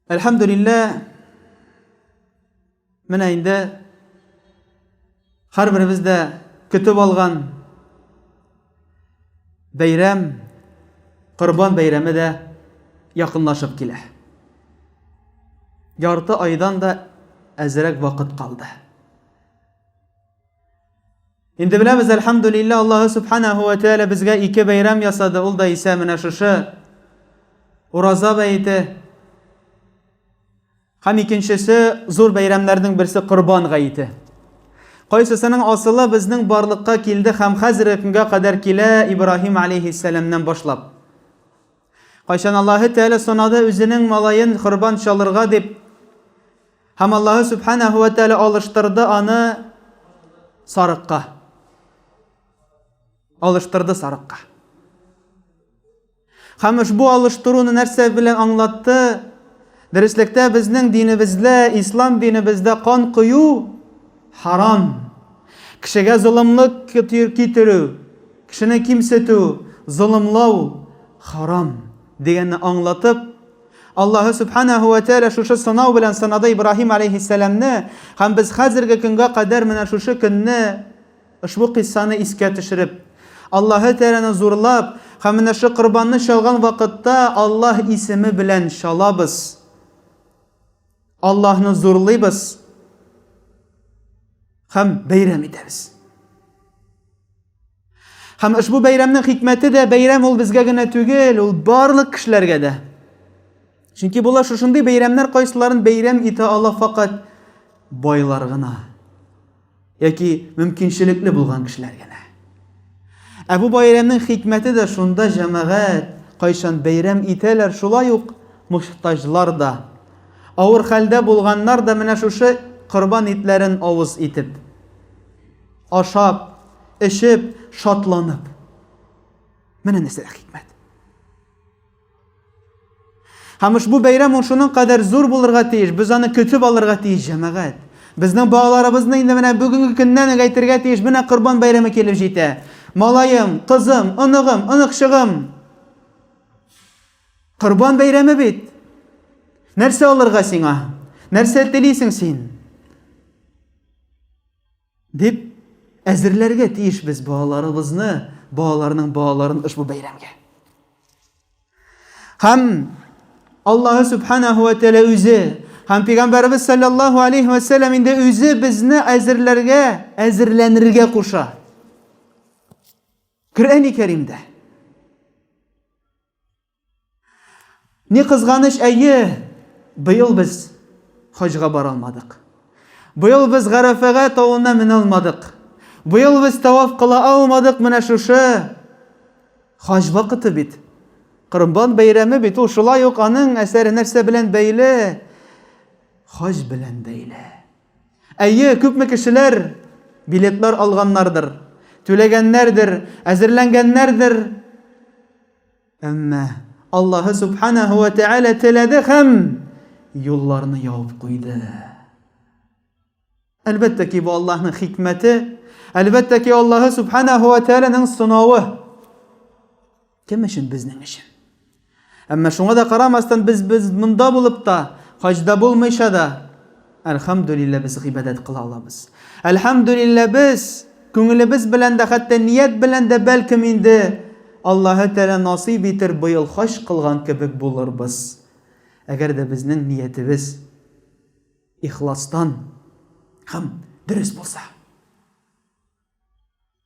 Әлхәмдулиллә, менә инде һәрберебез дә көтеп алган Бәйрәм, Корбан бәйрәме дә якынлашып килә. Ярты айдан да әзрәк вакыт калды. Инде беләбез, әлхәмдүлиллә, Аллаһы Субханаһу ва Тәгалә безгә ике бәйрәм ясады, ул да исә менә шушы Ураза бәете. Һәм икенчесе, зур бәйрәмнәрнең берсе Корбан гаете. Кайсысының асылы безнең барлыкка килде һәм хәзерге көнгә кадәр килә, Ибраһим алейһиссәламнән башлап. Кайчан Аллаһы Тәгалә санады үзенең малаен корбан чалырга дип, һәм Аллаһы Сүбхәнәһү вә Тәгалә алыштырды аны сарыкка. Алыштырды сарыкка. Һәм ошбу алыштыруны нәрсә белән аңлатты? Дөреслектә безнең динебездә, ислам динебездә кан кою харам. Кешегә золымлык китерү, кешене кимсетү, золымлау харам, дигәнне аңлатып, Аллаһы Сүбхәнәһү вә Тәгалә шушы сынау белән сынады Ибраһим аләйһиссәламне, һәм без хәзерге көнгә кадәр менә шушы көнне, Ошбу кыйссаны искә төшереп, Аллаһы Тәгаләне зурлап һәм менә шу корбанны чалган вакытта Аллаһ исеме белән чалабыз. Аллаһны зурлыйбыз һәм бәйрәм итәбез. Һәм ошбу бәйрәмнең хикмәте дә бәйрәм ул безгә генә түгел, ул барлык кешеләргә дә. Чөнки болар шушындый бәйрәмнәр кайсыларын бәйрәм итә ала факат байлар гына. Яки мөмкинчелекле булган кешеләр генә. Ә бу бәйрәмнең хикмәте дә шунда, җәмәгать кайчан бәйрәм итәләр, шулай ук мохтаҗлар да, авыр хәлдә булганнар да менә шушы корбан итләрен авыз итеп, ашап, эчеп, шатланып. Менә нәрсә хикмәт. Һәм ошбу бәйрәм ул шуның кадәр зур булырга тиеш, без аны көтеп алырга тиеш, җәмәгать. Безнең балаларыбызны инде менә бүгенге көннән үк әйтергә тиеш, менә Корбан бәйрәме килеп җитә. Малаем, кызым, оныгым, оныкчыгым! Корбан бәйрәме бит! Нәрсә алырга сиңа? Нәрсә телисең син? Дип әзерләргә тиеш без балаларыбызны, балаларның балаларын ошбу бәйрәмгә. Һәм Аллаһы субханаһу ва тәгалә үзе һәм пәйгамбәрбез саллаллаһу алейһи ва саллям инде үзе безне әзерләргә, әзерләнергә куша. Коръәни Кәримдә Ни кызганыч, әйе, быел без хаҗга бара алмадык. Быел без Гарәфәгә тавына менә алмадык. Быел без таваф кыла алмадык, менә шушы хаҗ вакыты бит. Корбан бәйрәме бит ул, шулай ук аның әсәре нәрсә белән бәйле? Хаҗ белән бәйле. Әйе, күпме кешеләр билетлар алганнардыр, түләгәннәрдер, әзерләнгәннәрдер. Әмма Аллаһы Субханаһу ва Тәгалә теләде һәм юлларны ябып куйды. Әлбәттә ки, бу Аллаһның хикмәте, әлбәттә ки, Аллаһы Субханаһу ва Тәгаләнең сынавы. Кем өчен безнең өчен? Әмма шуңа да карамастан, без без монда булып та, хаҗда булмыйча да, Әлхәмдүлиллә без гыйбадәт кыла алабыз. Әлхәмдүлиллә без күңелебез белән дә, хәтта ният белән дә бәлкем инде Аллаһы Тәгалә насыйп итер быел хаҗ кылган кебек булырбыз. Әгәр дә безнең ниятебез ихластан һәм дөрес булса.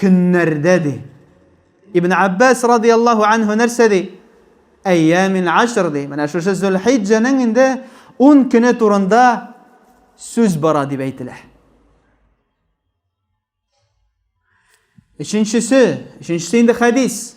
Көннәрдә ди. Ибн Аббас радияллаһу анһу нәрсә ди? Әйямин ашр ди. Менә шушы Зөлхиҗҗәнең инде ун көне турында сүз бара дип әйтелә. Өченчесе, өченчесе инде хәдис.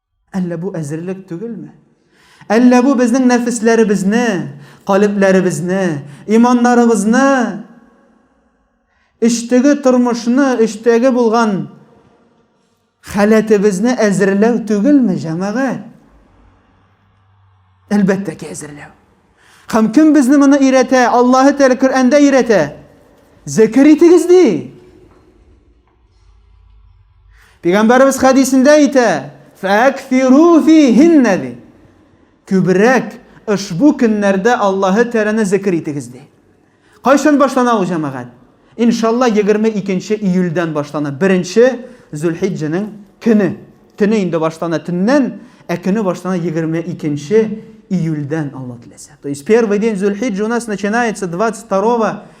Әллә бу әзерлек түгелме? Әллә бу безнең нәфесләребезне, калебләребезне, иманнарыбызны, эчтеге тормышны, эчтәге булган халәтебезне әзерләү түгелме, җәмәгать? Әлбәттә ки, әзерләү. Һәм кем безне моны өйрәтә? Аллаһы Тәгалә Коръәндә өйрәтә. Зәкер итегез ди. Пәйгамбәрбез хәдисендә әйтә, "Фәкфиру фихинна" ди. Күбрәк ошбу көннәрдә Аллаһы Тәгаләне зикр итегез ди. Кайчан башлана ул җәмәгать? Иншалла 22 июльдән башлана. 1 Зөлхиҗҗәнең көне. Төне инде башлана төннән, ә көне башлана 22 июльдән, Алла теләсә. То есть первый день Зөлхиҗҗа у нас начинается 22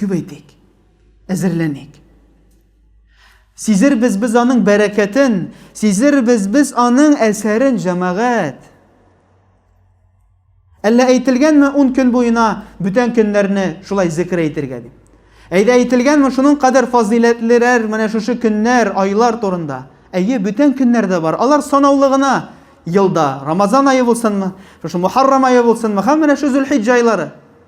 Күбәйтик. Әзерләник. Сизербез без аның бәрәкәтен, сизербез без аның әсәрен, җәмәгать. Әллә әйтелгәнме ун көн буена бүтән көннәрне шулай зекер әйтергә дип? Әйдә әйтелгәнме шуның кадәр фазыйләтлерәр менә шушы көннәр, айлар турында? Әйе, бүтән көннәр дә бар. Алар санаулы гына елда. Рамазан ае булсынмы, шушы Мухаррам ае булсынмы, һәм менә шу Зөлхиҗҗә айлары.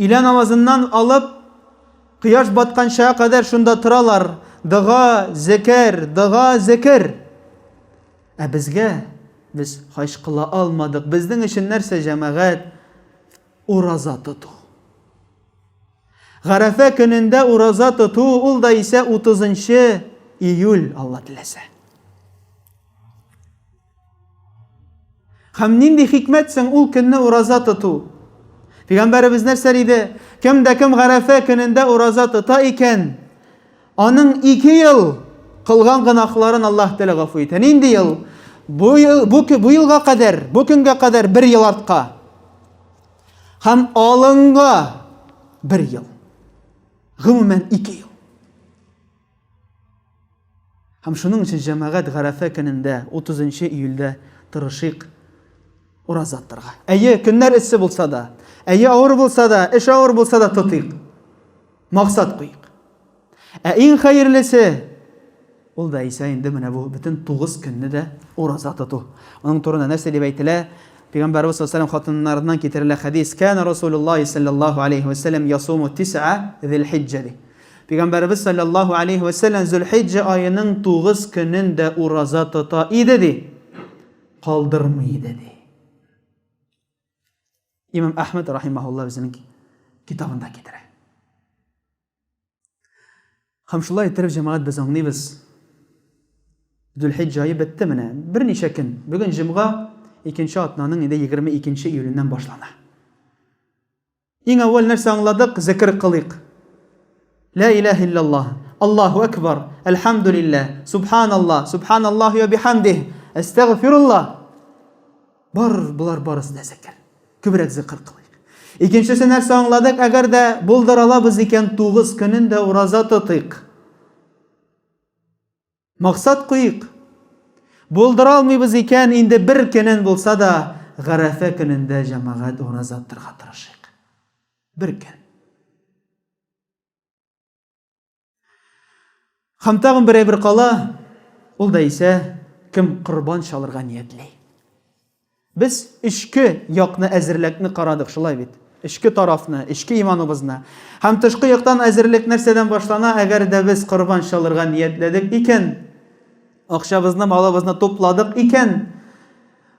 Өйлә намазыннан алып, кояш батканчага кадәр шунда торалар, дога, зекер, дога, зекер. Ә безгә, без хаҗ кыла алмадык, безнең өчен нәрсә җәмәгать? Ураза тоту. Гарәфә көнендә ураза тоту, ул да исә 30 нчы июль, Алла теләсә. Һәм нинди хикмәт соң ул көнне ураза тоту? Пәйгамбәребез нәрсә диде? Кем дә кем Гарәфә көнендә ураза тота икән, аның ике ел кылган гынахларын Аллаһ Тәлә гафу итә. Нинди ел? Бу ел бу, бу елга кадәр, бу көнгә кадәр бер ел артка. Һәм алынга бер ел. Гомумән ике ел. Һәм шуның өчен җәмәгать Гарәфә көнендә, 30 нчы июльдә тырышыйк ураза тотарга. Әйе, көннәр эссе булса да, әйе, авыр булса да, эш авыр булса да тотыйк. Максат куйыйк. Ә иң хәерлесе ул да исә инде менә бу бөтен 9 көнне дә ураза тоту. Аның турында нәрсә дип әйтелә? Пәйгамбәрбез саллаллаһу алейһи хатыннарыннан китерелә хәдис: "Кана Расулуллаһи саллаллаһу алейһи ва саллям ясуму тисъа зилхиҗҗа" ди. Пәйгамбәребез салләллаһу алейһи вә сәлләм Зөлхиҗҗә аеның тугыз көнен дә ураза тота иде, ди. Калдырмый иде, ди. Имам Әхмәд рахимаһулла үзенең китабында китерә. Һәм шулай иттереп, җәмәгать без аңлыйбыз. Дүлхиҗ җайы бетте менә. Берничә көн. Бүген җомга, икенче атнаның инде 22 июленнән башлана. Иң әүвәл нәрсә аңладык, зекер кылыйк. Лә иләһә илляллаһ, Аллаһу әкбар, әлхәмдүлилләһ, субханаллаһ, субханаллаһи вә бихәмдиһ, әстәгъфируллаһ. Бар, болар барысы да зекер. Күбрәк зекер кылыйк. Икенчесе нәрсә аңладык, әгәр дә булдыра алабыз икән, тугыз көнен дә ураза тотыйк. Максат куйыйк. Булдыра алмыйбыз икән, инде бер көнен булса да, Гарәфә көнендә җәмәгать ураза тотарга тырышыйк. Бер көн. Һәм тагын бер әйбер кала, ул да исә, кем корбан чалырга ниятли. Без эчке якны әзерлекне карадык, шулай бит? Эчке тарафны, эчке иманыбызны. Һәм тышкы яктан әзерлек нәрсәдән башлана? Әгәр дә без корбан чалырга ниятләдек икән, акчабызны, малыбызны тупладык икән,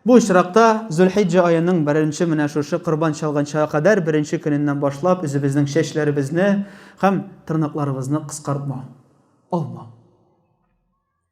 Бу очракта Зөлхиҗҗә аеның беренче менә шушы корбан чалганчага кадәр беренче көненнән башлап үзебезнең чәчләребезне һәм тырнакларыбызны кыскартмау, алмау.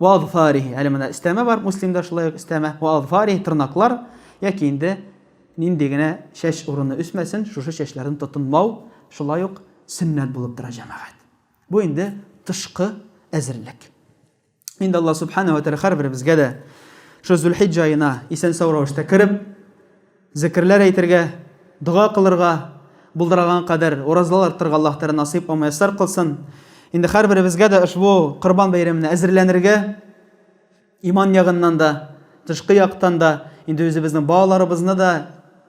Ва азфарихи. Әле менә өстәмә бар, Муслимда шулай ук өстәмә. Ва азфарихи тырнаклар яки инде нинди генә чәч урыны үсмәсен, шушы чәчләрне тотынмау шулай ук сөннәт булып тора, җәмәгать. Бу инде тышкы әзерлек. Инде Аллаһ Субхана ва Тәгалә һәрберебезгә дә шул Зулхиҗҗә аена исән-сау рәвештә кереп, Зекерләр әйтергә, дога кылырга, булдыраган кадәр уразалар тотырга Аллаһ Тәгалә насыйп һәм мөяссәр кылсын. Инде һәрберебезгә дә ошбу Корбан бәйрәменә әзерләнергә, иман ягыннан да, тышкы яктан да, инде үзебезнең балаларыбызны да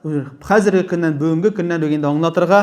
хәзерге көннән, бүгенге көннән үк инде аңлатырга,